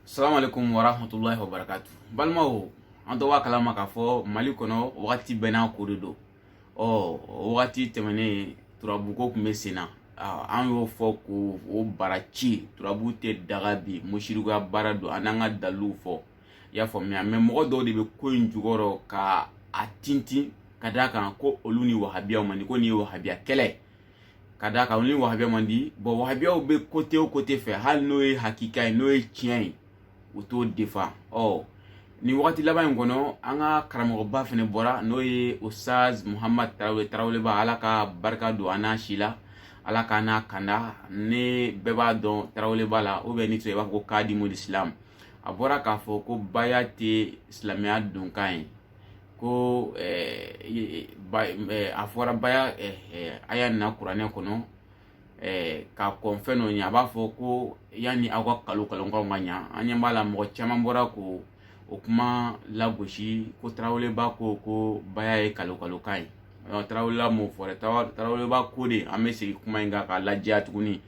salaamaaleykum warahmatulahi wabarakatu balimaw an tɔ b'a kalama k'a fɔ mali kɔnɔ wagati bɛɛ n'a ko de don ɔ wagati tɛmɛnen turabuko tun bɛ sen na an y'o fɔ k'o o bara ci turabu tɛ daga bi musirikuya baara don an n'an ka daliluw fɔ i y'a faamuya mɛ mɔgɔ dɔw de bɛ ko in jukɔrɔ ka a tintin ka d'a kan ko olu ni wahabiyaw man di ko nin ye wahabiya kɛlɛ ye ka d'a kan olu ni wahabiyaw man di bɔn wahabiyaw bɛ kote o kote fɛ hali n'o ye hakika ye n'o ye tiɲɛ ye u t'o defa ɔ nin wagati laban in kɔnɔ an ka karamɔgɔba fɛnɛ bɔra n'o ye ustaz muhamad taraweleba ala ka barika don an n'a si la ala k'an n'a kanda an bɛɛ b'a dɔn taraweleba la ou bien n'o tɛ i b'a fɔ ko kadimul islam a bɔra k'a fɔ ko baya tɛ silamɛya donkan ye ko a fɔra baya aya na kuranɛ kɔnɔ k'a kɔn fɛn dɔ ɲɛ a b'a fɔ ko yanni aw ka kalokalokanw ka na an ɲɛ b'a la mɔgɔ caman bɔra k'o kuma lagosi ko taraweleba ko ko baya ye kalokalokan ye taraweleba m'o fɔ dɛ taraweleba ko di an bɛ segin kuma in kan k'a lajɛya tuguni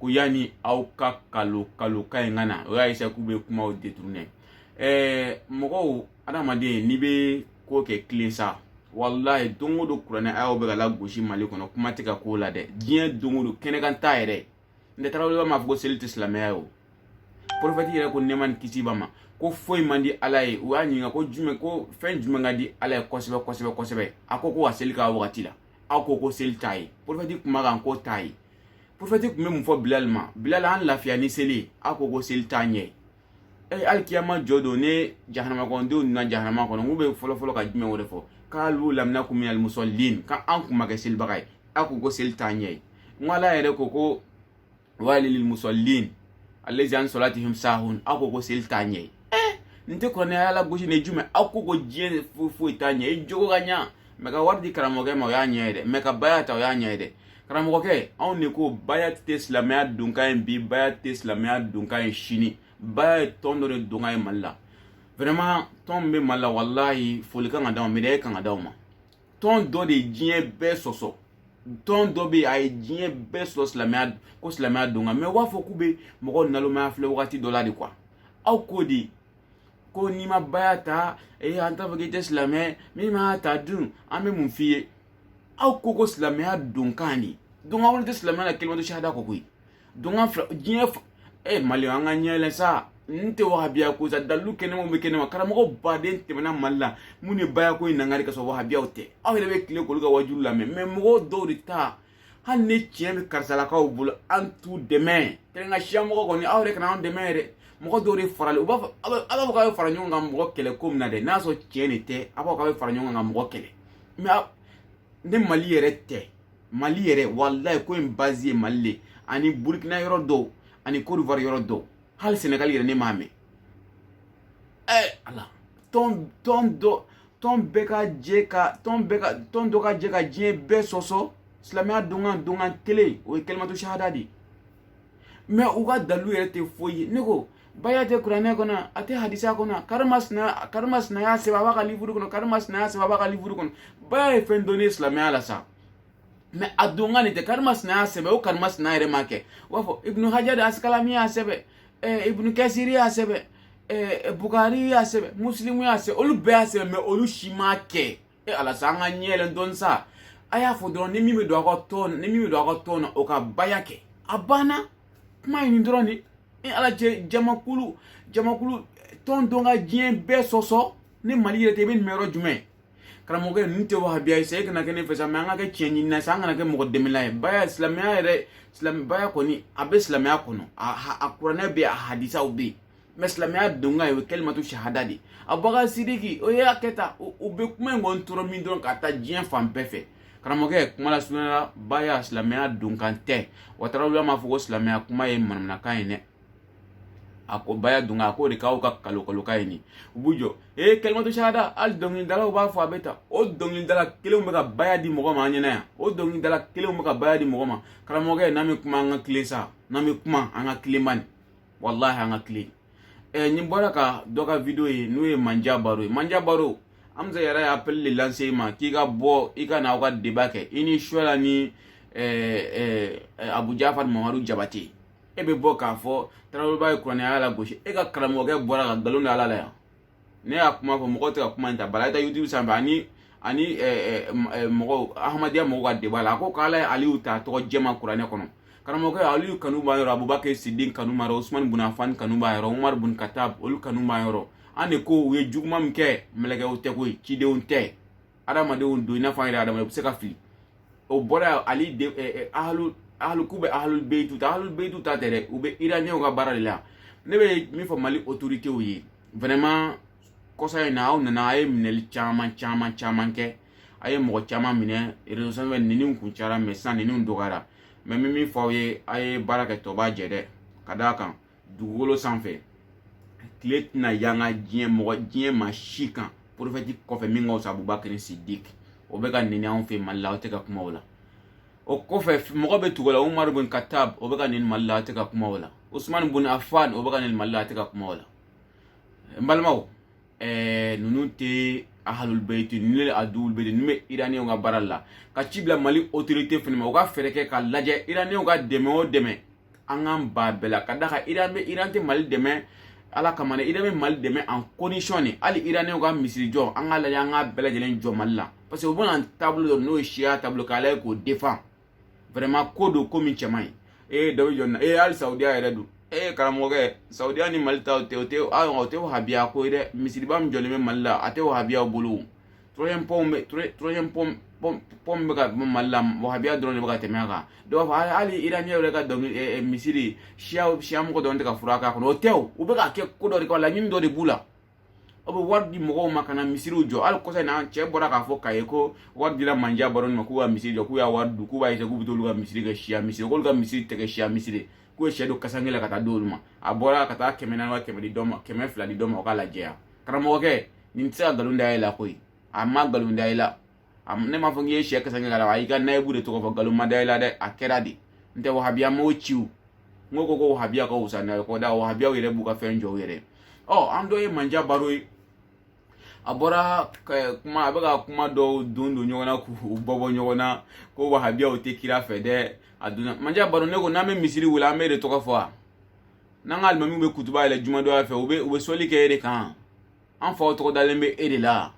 ko yanni aw ka kalokalokan in ka na o y'a eseye k'u bɛ kumaw detunɛ ɛɛ mɔgɔw adamaden n'i bɛ ko kɛ tilen sa walayi don o don kuranɛ ayaw bɛ ka lagosi mali kɔnɔ kuma tɛ ka k'o la dɛ diɲɛ don o don kɛnɛkan t'a yɛrɛ n tɛ taraweleba m'a fɔ ko seli tɛ silamɛya ye o porofɛti yɛrɛ ko nɛɛma ni kisi b'a ma ko foyi man di ala ye u y'a ɲininka ko jumɛn ko fɛn jumɛn ka di ala ye kosɛbɛ kosɛbɛ kosɛbɛ a ko ko ka seli k'a wagati la aw ko ko seli t'a ye porofɛti kuma kan k'o t'a ye porofɛti tun bɛ mun fɔ bilali ma bilali an lafiya ni seli ye aw ko ko seli t'a ɲɛ ye ee alikiyama jɔ don ni jahanamadenw nana jahanama kɔnɔ k'u bɛ fɔlɔfɔlɔ ka jumɛn wɛrɛ fɔ kalu lam naku minal musɔlin ka an kun ma kɛ selibaga ye aw ko ko seli t'a ɲɛ ye n ko ala yɛrɛ ko ko walilil musɔlin alazi an sɔlatihim sahun aw ko ko seli t'a ɲɛ ye ee n tɛ kuranɛ aya lagosi ni jumɛn aw ko ko diɲɛ foyi foyi t'a ɲɛ i jogo ka ɲa mɛ ka wari di karamɔgɔkɛ ma o y'a ɲɛ ye dɛ mɛ ka baya ta o y'a ɲɛ ye dɛ karamɔgɔkɛ anw de ko baya tɛ silamɛya donkan ye bi baya tɛ silamɛya donkan ye sini baya ye tɔn dɔ de donkan ye mali la vraiment tɔn min bɛ mali la walayi foli kan ka d'aw ma medayi kan ka d'aw ma tɔn dɔ de ye diɲɛ bɛɛ sɔsɔ tɔn dɔ bɛ yen a ye diɲɛ bɛɛ sɔsɔ silamɛya ko silamɛya donkan mɛ u b'a fɔ k'u bɛ mɔgɔw nalomaya filɛ wagati dɔ la de kuwa aw ko di ko n'i ma baya ta ee an t'a fɔ k'i tɛ silamɛ min m'a ta dun an bɛ mun f'i ye aw ko ko silamɛya donkan de donkan wɛrɛ tɛ silamɛya la kalimatu sahada kɔ koyi donkan fila diɲɛ e mali an ka ɲɛ yɛlɛ sa n tɛ wahabiya ko sa dalilu kɛnɛmaw bɛ kɛnɛma karamɔgɔ baden tɛmɛna mali la mun ye baya ko in nangari ka sɔrɔ wahabiyaw tɛ aw yɛrɛ bɛ tile k'olu ka wajulu lamɛn mɛ mɔgɔw dɔw de ta hali ni tiɲɛ bɛ karisalakaw bolo an t'u dɛmɛ kɛrɛn ka siya mɔgɔ kɔni aw yɛrɛ kana an dɛmɛ yɛrɛ mɔgɔ dɔw de faralen u b'a fɔ aw b'a fɔ k'aw bɛ fara ɲɔgɔn kan mɔgɔ kɛlɛ ko min na dɛ n'a sɔrɔ tiɲɛ de tɛ aw b'a fɔ k'aw bɛ fara ɲɔgɔn kan ka mɔgɔ kɛlɛ mɛ ni mali yɛrɛ tɛ mali yɛrɛ walayi ko in bazi ye mali le ani burukina yɔrɔ dɔw ani kodivari yɔrɔ dɔw hali sɛnɛgali yɛrɛ ne m'a mɛn ɛ ala tɔn tɔn dɔ tɔn bɛɛ ka jɛ ka tɔn bɛɛ ka tɔn dɔ ka jɛ ka diɲɛ bɛɛ sɔsɔ silamɛya donkan donkan kelen o ye kalimatu sahada de ye mɛ u ka dalilu yɛrɛ tɛ foyi ye ne ko baya tɛ kuranɛ kɔnɔ a tɛ hadisa kɔnɔ karimasina karimasina y'a sɛbɛn a b'a ka livuru kɔnɔ karimasina y'a sɛbɛn a b'a ka livuru kɔnɔ baya ye fɛn dɔnnen silamɛya la sa mɛ a donkan nin tɛ karimasina y'a sɛbɛn o karimasina yɛrɛ m'a kɛ u b'a fɔ ibunu hajari asikalani y'a sɛbɛn ibunu kɛsiri y'a sɛbɛn bukari y'a sɛbɛn musilimu y'a sɛbɛn olu bɛɛ y'a sɛbɛn mɛ olu si m'a kɛ e ala sa an ka ɲɛ yɛlɛ dɔɔni sa a y'a fɔ dɔrɔn ni min bɛ don aw ka tɔn ni min bɛ don aw ka tɔn na o ka baya kɛ a banna kuma ye nin dɔrɔn de ni ala cɛ jamakulu jamakulu tɔn dɔ ka diɲɛ bɛɛ sɔsɔ ni mali yɛrɛ tɛ i bɛ nin mɛn yɔrɔ jumɛn karamɔgɔkɛ ninnu tɛ wahabiya ye sa e kana kɛ ne fɛ sa mɛ an ka kɛ tiɲɛ ɲinina sa an kana kɛ mɔgɔ dɛmɛla ye baya silamɛya yɛrɛ silamɛ baya kɔni a bɛ silamɛya kɔnɔ a a kuranɛ bɛ yen a hadisaw bɛ yen mɛ silamɛya donkan ye o ye kalimatu sahada de ye abubakar sidiki o y'a kɛ tan u bɛ kuma in kɔni tɔɔrɔ min dɔrɔn ka taa diɲɛ fan bɛɛ fɛ karamɔgɔkɛ kuma lasurunyala baya silamɛya donkan tɛ wa tarawele m'a fɔ ko silamɛya kuma ye manamanakan ye dɛ a ko baya don a k'o de k'aw ka nkalon nkalon kan ye nin u b'u jɔ ee kalimatu sahada hali dɔnkilidalaw b'a fɔ a bɛ ta o dɔnkilidala kelenw bɛ ka baya di mɔgɔ ma an ɲɛna yan o dɔnkilidala kelenw bɛ ka baya di mɔgɔ ma karamɔgɔkɛ n'an bɛ kuma an ka tilen sa n'an bɛ kuma an ka tilen man nin walahi an ka tilen ɛ eh, ni bɔra ka dɔ ka video ye n'o ye manja baro ye manja baro hamza yɛrɛ ye appel de lancer i ma k'i ka bɔ i ka na aw ka deba kɛ i ni suwala ni eh, eh, abu jafar mamadu jabate e bɛ bɔ k'a fɔ taraweleba ye kuranɛ aya lagosi e ka karamɔgɔkɛ bɔra ka nkalon da ala la yan ne y'a kuma fɔ mɔgɔw tɛ ka kuma in ta bala i taa youtube sanfɛ ani ani mɔgɔw ahmadiya mɔgɔw ka deba la a ko k'ala ye aliyu ta tɔgɔ jɛma kuranɛ kɔnɔ karamɔgɔkɛ aliyu kanu b'an yɔrɔ abubakar sidiki kanu b'an yɔrɔ usman bun afan kanu b'an yɔrɔ umar bun katab olu kanu b'an yɔrɔ an de ko u ye juguman min kɛ mɛlɛkɛw tɛ koyi cidenw tɛ adamadenw don i n'a fɔ an yɛrɛ adamadenw u bɛ se ka fili o bɔra ale de ahlu ahlu k'u bɛ ahlu beyitu ta ahlu beyitu ta tɛ dɛ u bɛ iraniyɛnw ka baara de la ne bɛ min fɔ mali autoritéw ye vraiment kɔsa in na aw nana a ye minɛli caman caman caman kɛ a ye mɔgɔ caman minɛ réseau sanfɛ nenini kun cayara mais sisan nenini dɔgɔyara mais n bɛ min fɔ aw ye a ye baara kɛ dɔ b'a jɛ dɛ ka d'a kan dugukolo sanfɛ tile tɛna yanga diɲɛ mɔgɔ diɲɛ ma si kan prophète kɔfɛ min ka fisa abubakari sidiki o bɛ ka neni anw fɛ mali la aw tɛ ka kuma o la o kɔfɛ mɔgɔ bɛ tugu la umaru bin katab o bɛ ka neni mali la aw tɛ ka kuma o la usumani bin afan o bɛ ka neni mali la aw tɛ ka kuma o la n balimaw ɛɛ ninnu tɛ ahalul bayiti ninnu ye aduwul bayiti ninnu bɛ iraniyɛnw ka baara la ka ci bila mali autorité fana ma u ka fɛɛrɛ kɛ ka lajɛ iraniyɛnw ka dɛmɛ o dɛmɛ an k'an ban a bɛɛ la ka d'a kan iran bɛ iran tɛ mali dɛmɛ ala kama dɛ iran bɛ mali dɛmɛ en condition de hali iraniyɛnw ka misiri jɔ an k'a lajɛ an k'a bɛɛ lajɛlen jɔ mali la parce que u bɛna taabolo dɔ n'o ye siya taabolo k'a lajɛ k'o défendre vraiment ko don ko min cɛ man ɲi ee dɔ bɛ jɔ nin na ee hali saudiya yɛrɛ don ee karamɔgɔkɛ saudiya ni mali ta o tɛ o tɛ o tɛ wahabiya ko ye dɛ misiriba min jɔlen bɛ mali la a tɛ wahabiyaw bolo o troisième pont bɛ troisième pont pont pont bɛ ka mali la wahabiya dɔrɔn de bɛ ka tɛmɛ a kan dɔw b'a fɔ hali iraniyɛnw yɛrɛ ka dɔnkili misiri siya siya mɔgɔ dɔrɔn tɛ ka fura k'a kɔnɔ o tɛ o u bɛ k'a kɛ ko dɔ de kama laɲini dɔ de b'u la aw bɛ wari di mɔgɔw ma ka na misiriw jɔ hali kɔsa in na cɛ bɔra k'a fɔ k'a ye ko wari dira manja baro ma k'u ka misiri jɔ k'u y'a wari dun k'u b'a ye k'u bɛ t'olu ka misiri kɛ siya misiri k'olu ka misiri tɛ kɛ siya misiri k'u ye sɛ don kasange la ka taa d'olu ma a bɔra ka taa kɛmɛ naani wa kɛmɛ di dɔ ma kɛmɛ fila di dɔ ma o k'a lajɛya karamɔgɔkɛ nin tɛ se ka nkalon da e la koyi a ma nkalon da e la ne m'a fɔ k'i ye sɛ kasange la a y'i ka nayibu de tɔgɔ fɔ nkalon ma da e la dɛ a kɛra de n tɛ wahabiya m'o ciw n ko ko ko wahabiya ka wusa n'a ye kɔ da wahabiyaw yɛrɛ b'u ka fɛn jɔ u yɛrɛ ɔ an dɔ ye manja baro ye a bɔra kuma a bɛ ka kuma dɔw don don ɲɔgɔn na k'u bɔ bɔ ɲɔgɔn na ko wahabiyaw tɛ kira fɛ dɛ a donna manja baro ne ko n'an bɛ misiri wele an b'e de tɔgɔ fɔ wa n'an ka alimamiw bɛ kutuba yɛlɛ jumadonya fɛ u bɛ u bɛ sɔli kɛ e de kan an faw tɔgɔ dalen bɛ e de la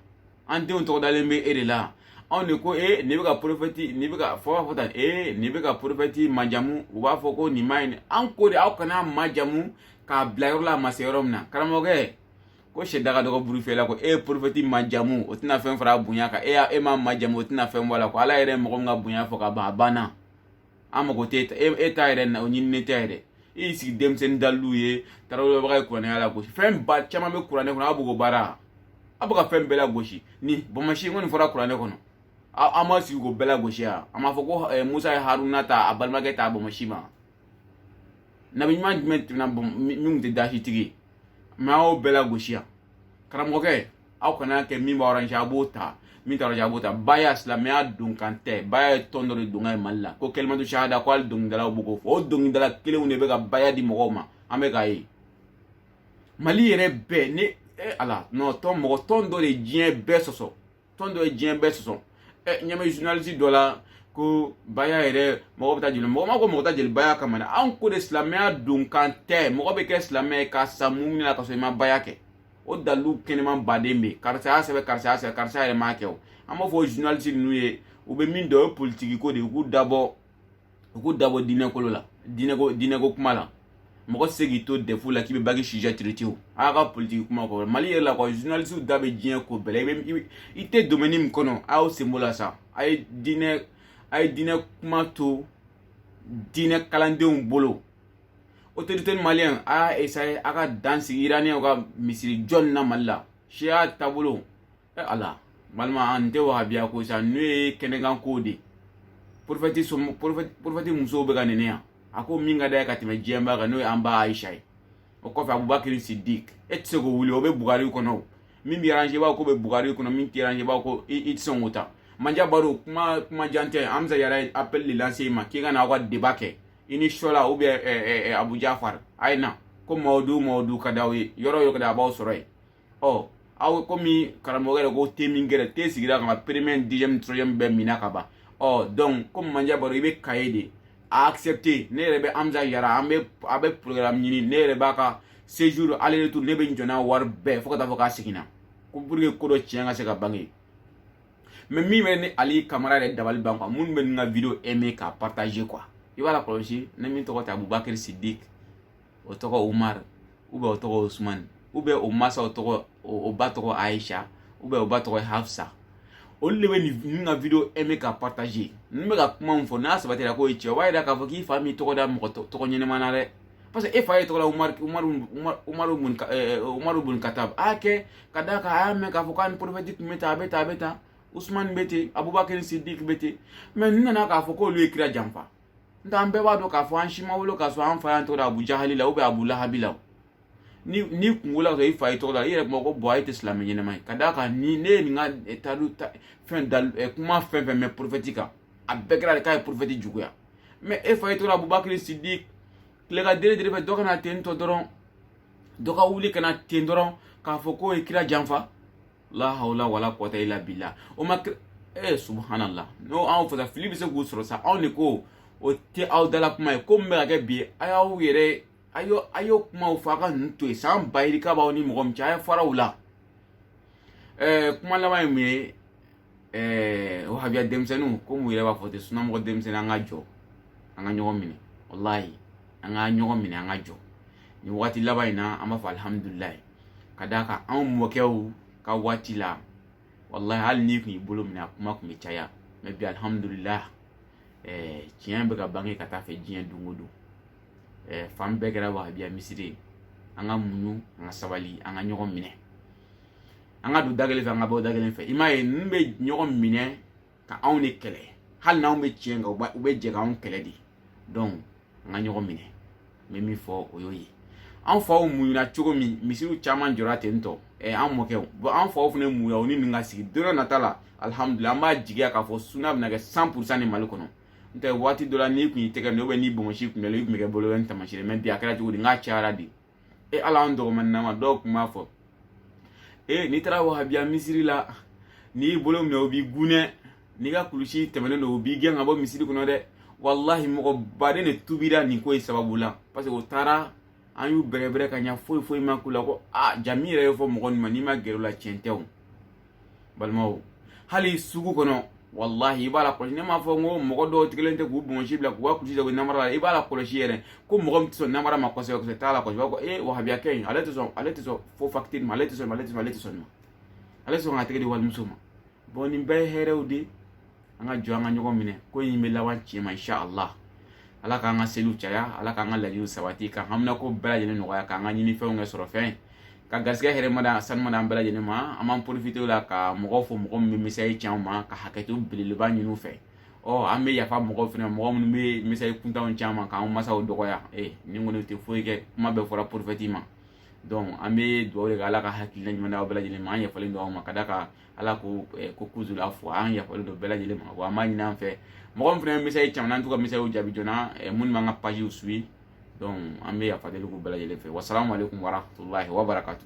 an denw tɔgɔ dalen bɛ e de la anw de ko e nin bɛ ka prophète nin bɛ ka fɔ b'a fɔ tan e nin bɛ ka prophète majamu u b'a fɔ ko nin man ɲi an ko de aw kana majamu k'a bila yɔrɔ la a ma se yɔrɔ min na karamɔgɔkɛ ko sɛ daga dɔgɔ buru fiyɛ la ko e ye prophète majamu o tɛna fɛn fara a bonya kan e y'a e m'a majamu o tɛna fɛn bɔ a la ko ala yɛrɛ ye mɔgɔ min ka bonya fɔ ka ban a banna an mago tɛ e ta yɛrɛ na o ɲininen tɛ yɛrɛ i y'i sigi denmisɛnnin dalilu ye tarawelebaga ye kuranɛ aya lagosi fɛn ba caman bɛ kuranɛ kɔnɔ aw b'o ko baara aw bɛ ka fɛn bɛɛ lagosi ni bonbonsi kɔni fɔra kuranɛ kɔnɔ an ma sigi k'o bɛɛ lagosi yan an b'a fɔ ko eh, musa ye haruna ta a balimakɛ ta a bonbonsi ma nabi ɲuman jumɛn tɛmɛna min tun tɛ dasitigi ye mais an y'o bɛɛ lagosi yan karamɔgɔkɛ aw kana kɛ min b'a arranger a b'o ta min t'a arranger a b'o ta baya silamɛya donkan tɛ baya ye tɔn dɔ de donkan ye mali la ko kalimatu sahada ko hali dɔnkilidalaw b'o ko fɔ o dɔnkilidala kelenw de bɛ ka baya di mɔgɔw ma an bɛ k'a ye mali yɛrɛ bɛɛ ne e ala nɔ tɔn mɔgɔ tɔn dɔ de ye diɲɛ bɛɛ sɔsɔ tɔn dɔ ye diɲɛ bɛɛ sɔsɔ ɛ n y'a mɛn journaliste dɔ la ko baya yɛrɛ mɔgɔ bɛ taa jeli mɔgɔ ma ko mɔgɔ ta jeli baya kama dɛ anw ko de silamɛya donkan tɛ mɔgɔ bɛ kɛ silamɛ ye ka sa mun na ka sɔrɔ i ma baya kɛ o dalilu kɛnɛman ba de bɛ yen karisa y'a sɛbɛn karisa y'a sɛbɛn karisa yɛrɛ m'a kɛ o an b'a fɔ journaliste ninnu ye u bɛ min dɔn o ye politiki ko de ye u k'u da bɔ u k'u da bɔ diinɛko la diinɛko diinɛko kuma la mɔgɔ tɛ se k'i to dɛfu la k'i bɛ bac sujet traité o a y'a ka politiki kuma kɔrɔ mali yɛrɛ la kɔ journaliste da bɛ diɲɛ ko bɛɛ la i bɛ i tɛ domaine min kɔnɔ a y'aw sen bɔ a la sa a ye diinɛ a ye diinɛ kuma to diinɛ kalandenw bolo otorite maliyɛn a y'a esaye a ka dan sigi iraniyɛnw ka misiri jɔ nin na mali la siya taabolo e ala balima an tɛ wahabiya ko sa n'o ye kɛnɛ kan kow de porofɛti som porofɛti musow bɛ ka neni yan a ko min ka d'a ye ka tɛmɛ diɲɛ bɛɛ kan n'o ye an ba ayisa ye o kɔfɛ abubakiri sidik e tɛ se k'o wuli o bɛ bukari kɔnɔ o min b'e aranze b'a k'o bɛ bukari kɔnɔ min t'e aranze b'a ko i tɛ sɔn k'o ta manja baro kuma kuma jan tɛ hamza yɛrɛ apɛli de lanse i ma k'i ka na aw ka deba kɛ i ni sɔla ou bien eh, eh, abu jafar a ye na ko mawudu mawudu ka d'aw ye yɔrɔ yɔrɔ ka da a b'aw sɔrɔ yen ɔ aw komi karamɔgɔkɛ yɛrɛ ko te min gɛrɛ te sigira ka premier deuxième troisième bɛɛ minna ka ban ɔ donc komi manja baro i bɛ kaye de a accepté ne yɛrɛ bɛ hamza jara an bɛ a bɛ programme ɲini ne yɛrɛ b'a ka séjour aller retour ne bɛ n jɔ n'a wari bɛɛ fo ka taa fo ka segin a kɔ pour que ko dɔ tiɲɛ ka se ka bange mɛ min bɛ ne ali kamara yɛrɛ dabali ban kuwa minnu bɛ nin ka video aimé k'a partager kuwa i b'a lakɔlɔsi ni min tɔgɔ tɛ abubakiri sidik o tɔgɔ umar ou bien o tɔgɔ usumani ou bien o masaw tɔgɔ o ba tɔgɔ aisha ou bien o ba tɔgɔ hafsa olu de bɛ nin ka video aimé k'a partager n bɛ ka kuma min fɔ n'a sabatira k'o ye tiɲɛ o b'a yira k'a fɔ k'i fa m'i tɔgɔ da mɔgɔ tɔgɔ ɲɛnama na dɛ parce que e fa y'i tɔgɔ da umaru umaru umaru bun umaru bun katab la kɛ ka d'a kan a y'a mɛn k'a fɔ k'a ni porofɛti tun bɛ tan a bɛ tan a bɛ tan usumani bɛ ten abubakari sidik bɛ ten mɛ n nana k'a fɔ k'olu ye kira janfa n tɛ an bɛɛ b'a dɔn k'a fɔ an si ma wolo k'a sɔrɔ an fa y'an tɔgɔ da abu jahali la abu lahabi la ni ni kungo la i fa y'i tɔgɔ da i yɛrɛ kuma ko bɔn a ye tɛ silamɛ ɲɛnama ye ka d'a kan ni ne ye nin ka taari fɛn kuma fɛn fɛn mɛn porofɛti kan a bɛɛ kɛra de k'a ye porofɛti juguya mɛ e fa ye tora abubakiri sidiki le ka dere dere fɛ dɔ ka na ten tɔ dɔrɔn dɔ ka wuli ka na ten dɔrɔn k'a fɔ k'o ye kira janfa la hawla wala kuwata ila bila o ma e subhanallah n'o anw fasa fili bɛ se k'u sɔrɔ sa anw de ko o tɛ aw dala kuma ye ko min bɛ ka kɛ bi a y'aw yɛrɛ a y'o a y'o kumaw fɔ a ka ninnu to yen san ba yirika b'aw ni mɔgɔ min cɛ a ye fara u la ɛɛ kuma laban ye mun ye ɛɛ wahabiya denmisɛnninw komi u yɛrɛ b'a fɔ ten sunamɔgɔ denmisɛnnin an ka jɔ an ka ɲɔgɔn minɛ walayi an ka ɲɔgɔn minɛ an ka jɔ nin waati laban in na an b'a fɔ alihamudulilayi ka d'a kan anw mɔkɛw ka waati la walayi hali n'i kun y'i bolo minɛ a kuma kun bɛ caya mɛ bi alihamudulilayi ɛɛ tiɲɛ bɛ ka bange ka taa fɛ diɲɛ don o don ɛɛ fan bɛɛ kɛra wahabiya misiri ye an ka muɲu an ka sabali an ka ɲɔgɔn minɛ an ka don da kelen fɛ an ka bɔ da kelen fɛ i m'a ye ninnu bɛ ɲɔgɔn minɛ ka anw de kɛlɛ hali n'anw bɛ tiɲɛ kan u bɛ jɛ k'anw kɛlɛ de donc an ka ɲɔgɔn minɛ n bɛ min fɔ o y'o ye an faw muɲuna cogo min misiriw caman jɔra ten tɔ ɛ an mɔkɛw bɔn an faw fana muɲuna u ni nin ka sigi don dɔ nata la alihamudulila an b'a jigiya k'a fɔ suna bɛna kɛ san purusan ni mali kɔnɔ n tɛ waati dɔ la n'i kun y'i tɛgɛ minɛ ubiyɛn n'i bɔnsi kun b'i la i kun bɛ kɛ bolo bɛ ni tamasiyɛn mɛ bi a kɛra cogo di n k'a cayara de e ala an dɔgɔmanninama dɔw kun b'a fɔ e n'i taara wahabiya misiri la n'i bolo minɛ o b'i gunɛ n'i ka kulusi tɛmɛnen don o b'i gɛn ka bɔ misiri kɔnɔ dɛ walahi mɔgɔ baden de tubira nin ko in sababu la parce que o taara an y'u bɛrɛbɛrɛ ka ɲa foyi foyi ma k'u la ko a jaa min yɛrɛ ye fɔ mɔgɔ ninnu ma n'i ma gɛrɛ o la tiɲɛ tɛ o balimaw hali sugu kɔnɔ walahi i b'a lakɔlɔsi ne m'a fɔ n ko mɔgɔ dɔw tigɛlen tɛ k'u bɔnsi bila k'u ka kulusi jago namara la i b'a lakɔlɔsi yɛrɛ ko mɔgɔ min tɛ sɔn namara ma kosɛbɛ kosɛbɛ t'a lakɔlɔsi b'a fɔ ee wahabiya kɛ in ale tɛ sɔn ale tɛ sɔn fo fakitiri ma ale tɛ sɔn ma ale tɛ sɔn ale tɛ sɔn ma ale tɛ sɔn k'a tɛgɛ di walimuso ma bɔn nin bɛɛ ye hɛrɛw de ye an ka jɔ an ka ɲɔgɔn minɛ ko in bɛ laban tiɲɛ ma insha allah ala k'an ka seliw caya ala k'an ka laɲiniw sabati ka haminako bɛɛ lajɛlen nɔgɔya k'an ka ɲinifɛnw kɛ sɔrɔfɛn ka garisɛgɛ hɛrɛma da sanuma da an bɛɛ lajɛlen ma an b'an porofite o la ka mɔgɔw fo mɔgɔ min bɛ mesazi ci an ma ka hakɛto belebeleba ɲini u fɛ ɔ an bɛ yafa mɔgɔw fɛnɛ mɔgɔ minnu bɛ mesazi kuntanw ci an ma k'an masaw dɔgɔya ee nin kɔni tɛ foyi kɛ kuma bɛɛ fɔra porofɛti ma donc an bɛ dugawu de kɛ ala ka hakilina ɲuman d'aw bɛɛ lajɛlen ma an yafalen don aw ma ka d'a kan ala ko eh, ko kuzil afwa an yafalen don bɛɛ lajɛlen ma wa an b'a ɲini an fɛ mɔgɔ min fana bɛ mesazi ci an ma n'an t'u ka mesaziw jaabi joona eh, minnu b'an ka pajiw suwi donc an bɛ yafa deli k'u bɛɛ lajɛlen fɛ wasalamu aleykum warahmatulahi wabarakatu